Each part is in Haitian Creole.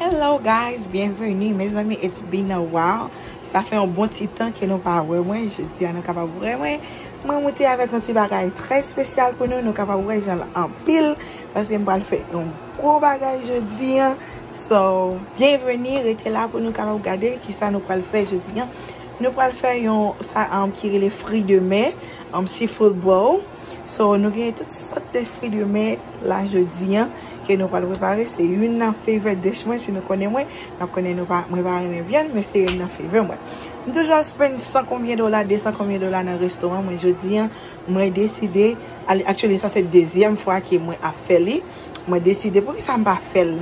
Hello guys, bienvenue mes amis, it's been a while Sa fè yon bon ti tan ke nou pa wè mwen Je di a nou kapab wè mwen Mwen mouti avèk yon ti bagay trè spesyal pou nou Nou kapab wè jan l anpil Paske m pral fè yon gwo bagay je di a So byenveni rete la pou nou kapab gade kisa nou pral fè jodi an nou pral fè yon sa ki rele fri de mè um sea food bowl so nou gen tout sòt de fri de mè la jodi an ke nou pral prepare se youn nan favorite dish mwen si nou konnen mwen nap konnen nou pa mwen pa renmen vyann men se youn nan favorite mwen m toujou ap spend san konbyen dola de san konbyen dola nan restoran mwen jodi an mwen deside actually sa se dezyèm fwa ke mwen ap fè li. Mwen deside pou ki sa m pa fè l.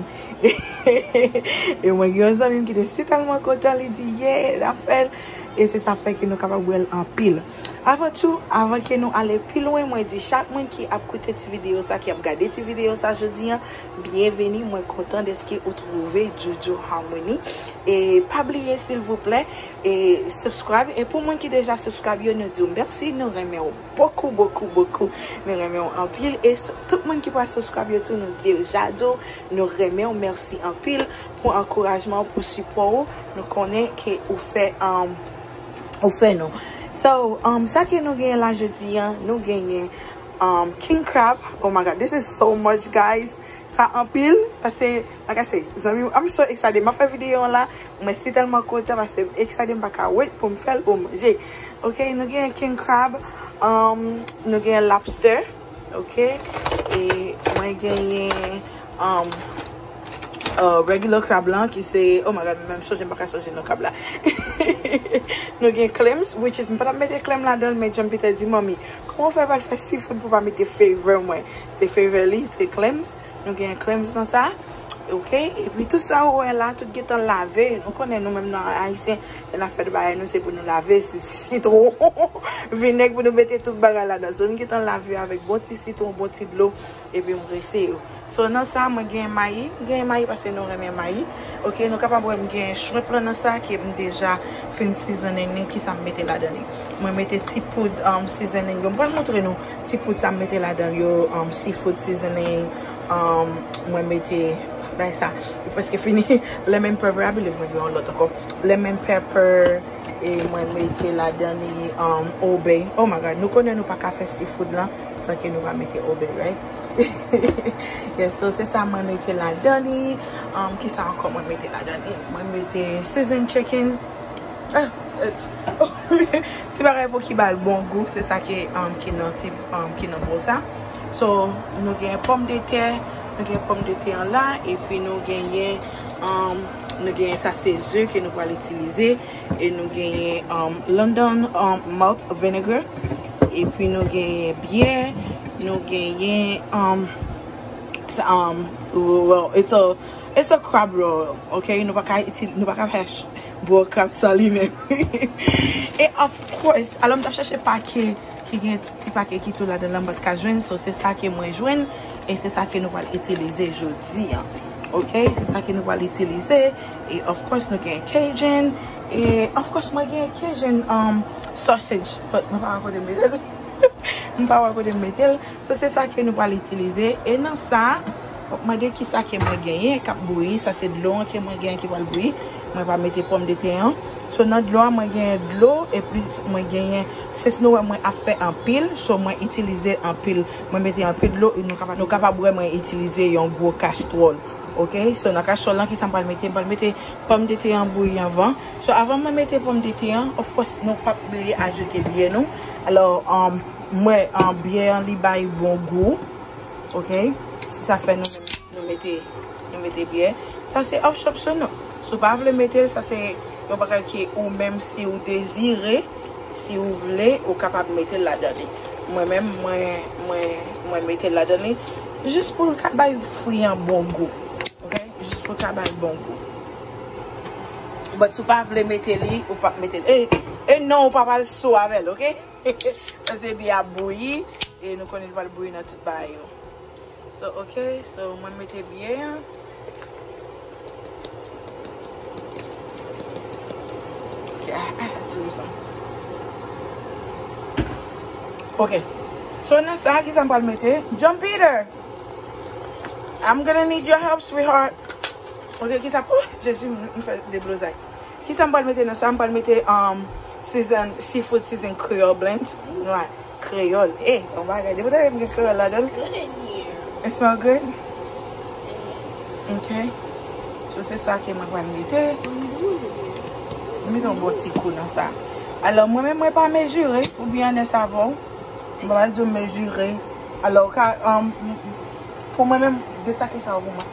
E mwen gen yon zanmi m ki te si tèlman kontan li di ye l ap fè l. E se sa fè ke nou kapab wè l anpil. Avan tou, avan ke nou ale pi lwen mwen di chak moun ki ap koute ti videyo sa, ki ap gade ti videyo sa jodi an, byenveni mwen kontan dèske ou twouve Jojo Harmony. E pa bliye silvouplè e subscribe e pou moun ki deja subscribe yo nou di w mèsi nou renmen w. Bokou bokou bokou nou renmenw anpil e tout moun ki pral subscribe yo tou nou deja diw nou renmenw merci anpil pou ankourajman ou pou sipò ou nou konnen ke ou fè ou fè nou so sa ke nou genyen la jodi an nou genyen king krab oh my god this is so much guys sa anpil pase Bagay se zanmim I'm so excited map fè video an la mwen si tèlman kontan paskem excited m paka wait poum fèl poum manje ok nou gen king crab nou gen lobster ok e mwen genyen regular crab lan ki se oh my god menm sonje m paka sonje non crab la nou gen claims which is m patap mete claim ladanl men John Peter di manmi kouman ou fè pral fè seafood pou pa mete favor mwen se favor li se claims Nou gen crèmes nan sa. Ok. E pi tout sa ou wè la, tout gentan lave. Nou konnen nou menm nan Ayisyen, lè n'ap fè tout bagay nou se pou nou lave. Se sitwon, vinèg pou nou mete tout bagay ladan. So nou gentan lave yo avèk bon ti sitwon, bon ti dlo. E pi m prese yo. So nan sa mwen gen mayi. M gen mayi paske nou renmen mayi. Ok. Nou kapab wè m gen shrimp lan nan sa ke m deja fin seasoning li. Kisa m mete ladan li. Mwen mete ti poud seasoning yo. M pral montre nou Ti poud sa m mete ladanl yo um seafood seasoning um mwen mete bagay sa li preske fini lemon pepper a believe mwen gen yon lot anko lemon pepper e mwen mete ladan li um old bay oh my god nou konnen nou paka fè seafood lan san ke nou pa mete old bay right yes so se sa mwen mete ladan li um kisa anko mwen mete ladan li mwen mete season chicken. Ti bagay pou ki ba l bon gou se sa ki nan bol sa. So nou gen pòm de tè, nou gen pòm de tè an la epi nou genyen nou genyen sa se ze ke nou pral itilize e nou genyen London malt vinegar epi nou genyen byè, nou genyen it's a crab roll ok nou pa ka fè Bro kap san limen E of course Alò m tap chache pake ki gen ti pake ki tou ladan la m pat ka jwenn so se sa ke mwen jwenn e se sa ke nou pral itilize jodi an ok se sa ke nou pral itilize e of course nou gen cajun e of course mwen gen cajun sausage but mwen pa wè kote m mete l mwen pa wè kote m mete l So se sa ke nou pral itilize. E nan sa, wap mande kisa ke mwen genyen kap bouyi. Sa se dlo an ke mwen genyen ki pral bouyi. Mwen va mete pòm de tè an. So nan dlo a mwen genyen dlo e plis mwen genyen sens nou wè mwen ap fè anpil. So mwen itilize anpil. Mwen mete anpil dlo e nou kapab wè mwen itilize yon gwo kastwòl. Ok. So nan kastwòl lan kisa mpral mete. Mpral mete pòm de tè an bouyi anvan. So avan mwen mete pòm de tè an, of course nou pap bliye ajoute byen nou. Alò. M wè biyè an li bay bon gou ok se sa fè nou mete nou mete biyè sa se optional si w pa vle mete l sa se yon bagay ki ou menm si w dezire si w vle ou kapab mete l ladan li mwen menm mwen mete l ladan li jis pou l ka bay fwi an bon gou ok jis pou l ka bay bon gou but si w pa vle mete li ou pap mete l e non ou pap al sou avè l ok. Paske bi ap bouyi e nou konnen li pral bouyi nan tout bagay yo. So ok, so mwen mete bi an. Ok, a a a ti rousan. Ok, so nan sa ki sa m pral mete. John Peter! I'm gonna need your help sweetheart. Ok, ki sa, oh jezi m fè deblozay. Kisa m pral mete nan sa? M pral mete season seafood season creole blend noix kreyòl e yon bagay depi w ta wèm gen kreyòl ladan l it smell good ok so se sa ke mwen pral mete m mete yon bon ti kou nan sa alò mwen menm mwen pa mezire ou byen anè savon m pral di w mezire alò ou ka pou mwen menm detake savon.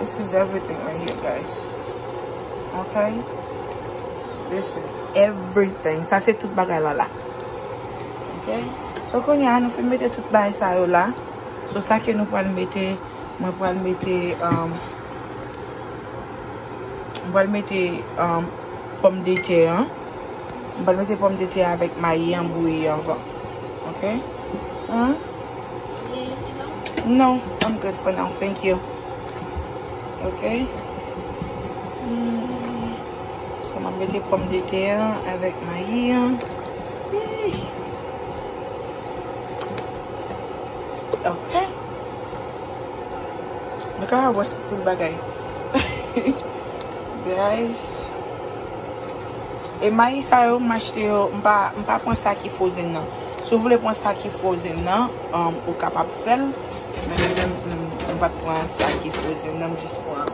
This is everything right here guys Ok This is everything Sa se tout bagay la la Ok So konya nou fin mete tout bagay sa yo la So sa ke nou pral mete Mwen pral mete um, Mwen pral mete um, Pom de te an Mwen pral mete pom de te avèk mayi an bouyi anvan Ok An No, I'm good for now, thank you. Ok. So mwen mete pom de te an avèk mayi an. Ok. Nou ka wè se pou bagay. Guys. E mayi sa yo m achte yo, m pa pran sa ki frozen nan. Si w vle pran sa ki frozen nan, ou kapab fè l. Men mwen menm, m pa t pran sa ki frozen nan. M jis pran,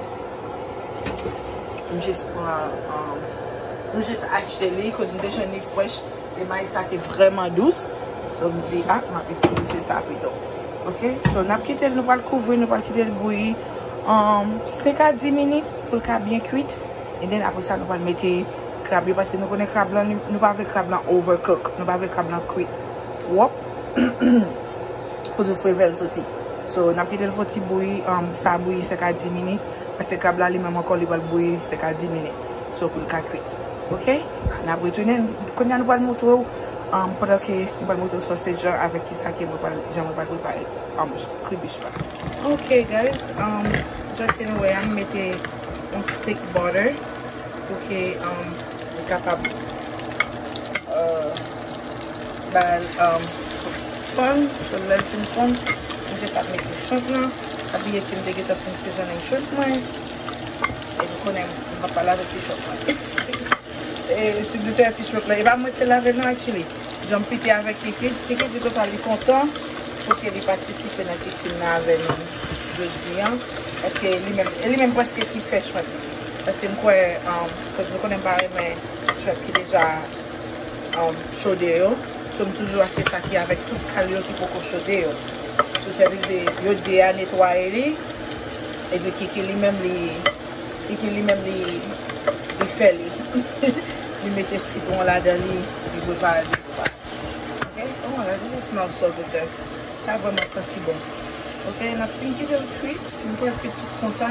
m jis pran, m jis achte li. Koz m te jwenn li fresh. E mayi sa te vreman dous. So m di, ah, m ap itilize sa pito. Ok? So n ap kite l, nou pral kouvri, nou pral kite l bouyi 5 a 10 minit pou l ka byen kwit. E den apre sa nou pral mete. Krab yo pase nou konnen krab lan nou pa vle krab lan over cook nou pa vle krab lan kwit twòp pou di frevel soti so nap kitel fon ti bouyi sa bouyi 5 a 10 minit pase krab la li menm ankò li pral bouyi 5 a 10 minit so poul ka kwit ok nap retounen kounya nou pral moutrew pandan ke nou pral moutrew sòsej lan avèk kisa ke mwen pral jan mwen pral prepare kribich la ok guys jan ke nou wè a m mete yon stik butter. Pou ke li kapab bay fann. So lèl fin fonn, m jis ap mete shrimp lan. Pa bliye ke m te gentan fin sezonnen shrimp mwen. E nou konnen m m pap pa lave ti shrimp lan. E si nou fè ti shrimp lan, e pa mwen ki te lavel non actually. Jan m pike avèk Kikit, Kikit di konsa li kontan pou ke li patisipe nan kitchen nan avè nou jodi an. Paske li menm, e li menm prèske ki fè shrimp. Paske m kwè koz nou konnen m pa renmen chòp ki deja chode yo so m toujou achte sa ki avèk tout kal yo ki poko chode yo sou sèvize yo 2 a netwaye li epi kiki li menm li kiki li menm li li fè li li mete sitwon ladan li li prepare li pou a ok oh my god this is smell so good guys sa vrèman santi bon ok nap fin kitel kwi m kwè l kwit tout konsa.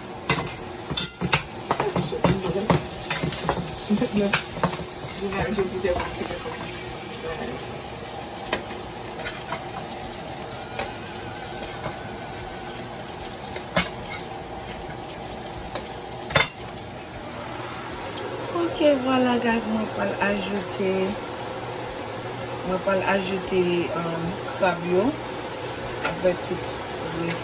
Vwala gaz mwen pal ajoute Mwen pal ajoute krab yo Avèk tout res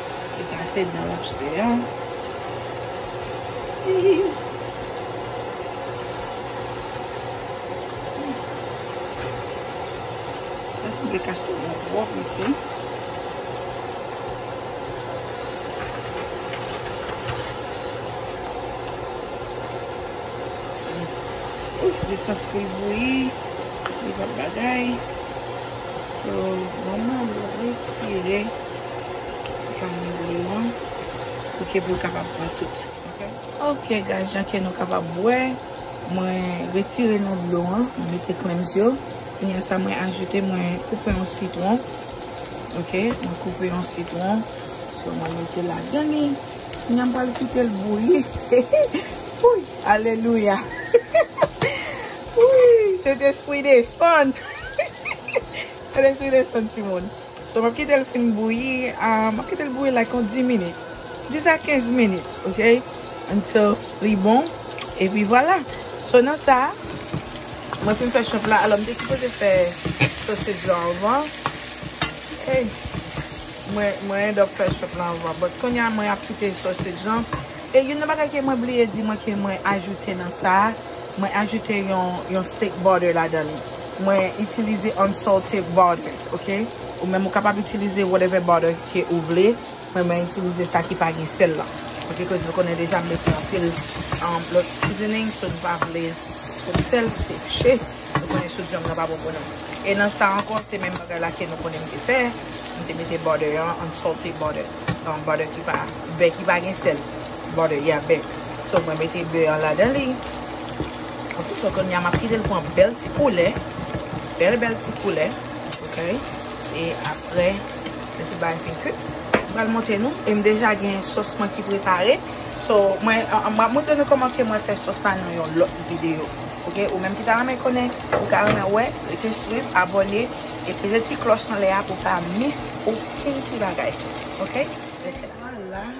Li kase dan lap jete a. Eske w te kache tou dan twò piti? Ouf, distans pou l bouyi. Li pa bagay. Manman, mwen retire. Ok guys jan ke nou kapab wè mwen retire nan dlo an mwen mete clems yo kounye a sa mwen ajoute mwen koupe yon sitron ok mwen koupe yon sitron so mwen mete ladan li kounye a m pral kite l bouyi wouyy alelouya wouyy sentespri desann sentespri desann timoun So map kitel fin bouyi map kitel bouyi like yon 10 minutes 10 a 15 minutes ok until li bon epi vwala so nan sa mwen fin fè shomp la alò mte sipoze fè sausage lan anvan hey mwen end up fè shomp lan anvan but kounya mwen ap kite sausage lan e youn nan bagay ke mwen bliye di mwen ke mwen ajoute nan sa. Mwen ajoute yon steak butter ladan li. Mwen itilize unsalted butter, ok. Ou menm ou kapab itilize whatever butter ke ou vle, men mwen itilize sa ki pa gen sèl lan. Ok, koz nou konnen deja m mete anpil lòt seasoning, so nou pa vle twòp sèl, se pche. Nou konnen soup janm nan pa bon pou nou. E nan sa ankò, se menm bagay la ke nou konnen m te fè. M te mete butter an, unsalted butter, butter ki pa, bè ki pa gen sèl. Bòdè ya bèk. So mwen mete bè an ladan li. Ok so konya map kite l pran bèl ti koulè. Bèl bèl ti koulè. Ok. E apre lè tout bagay fin kuit. M pral montre nou. E m deja gen sos mwen ki prepare. So mwen map montre nou koman ke mwen fè sos la nan yon lòt videyo. Ok. Ou menm ki ta renmen konnen. Ou ta renmen wè. Rete swiv. Abòne. E peze ti kloch anlè a pou w pa miss okenn ti bagay. Ok. Rete la.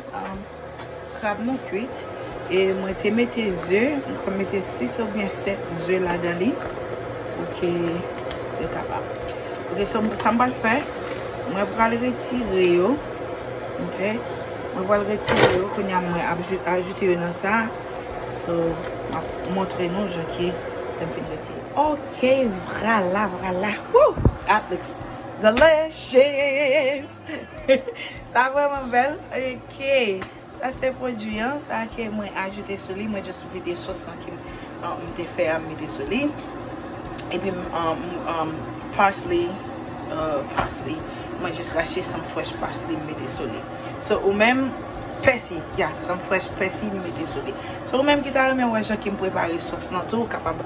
Krab mwen kwit e mwen te mete ze, mwen te mete 6 ou byen 7 ze ladan li pou ke yo kapab. Ok, sa mwen pral fè, mwen pral retire yo, ok, mwen pral retire yo, kounye a mwen ap ajoute yo nan sa, so mwen ap montre nou jan ke lèm fin retire. Ok, vrala vrala, woo, that looks delicious! Sa vreman bel ok. Sa se pwodwi an sa ke mwen ajoute sou li mwen just vide sos an kem te fè a m mete sou li epim parsley parsley mwen just rache some fresh parsley m mete sou li so ou menm pèsi ya some fresh pèsi m mete sou li so ou menm ki ta renmen wè jan kem prepare sos lan tou ou kapab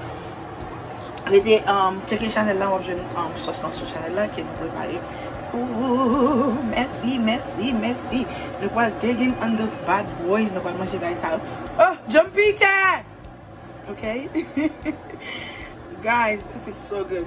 Rete tcheke chanèl la wap jwenn sòs lan sou chanèl la ke nou prepare pou ou mèsi mèsi mèsi nou pwal digging on those bad boys nou pwal manje bagay sa yo oh djom pite ok guys this is so good.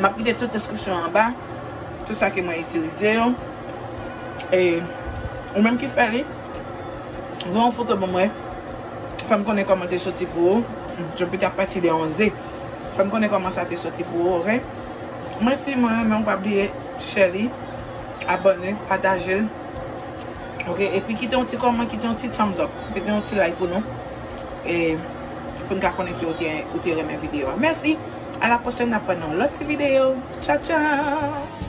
M ap kite tout deskripsyon an anba, tout sa ke mwen itilize yo. E ou menm ki fè li, voye yon foto ban mwen. Fè m konnen kòman l te soti pou ou. Jan pita pati de yon ze. Fè m konnen kòman sa te soti pou ou, oke. Mwen si mwen renmen w pa bliye share li, abòne, pataje l. Oke, epi kite yon ti kòman, kite yon ti thumbs up, kite yon ti like pou nou. Pou n ka konnen ke ou te renmen video a. Mèsi! A la pwochèn n ap wè nan yon lòt ti video. Tchaw tchaw!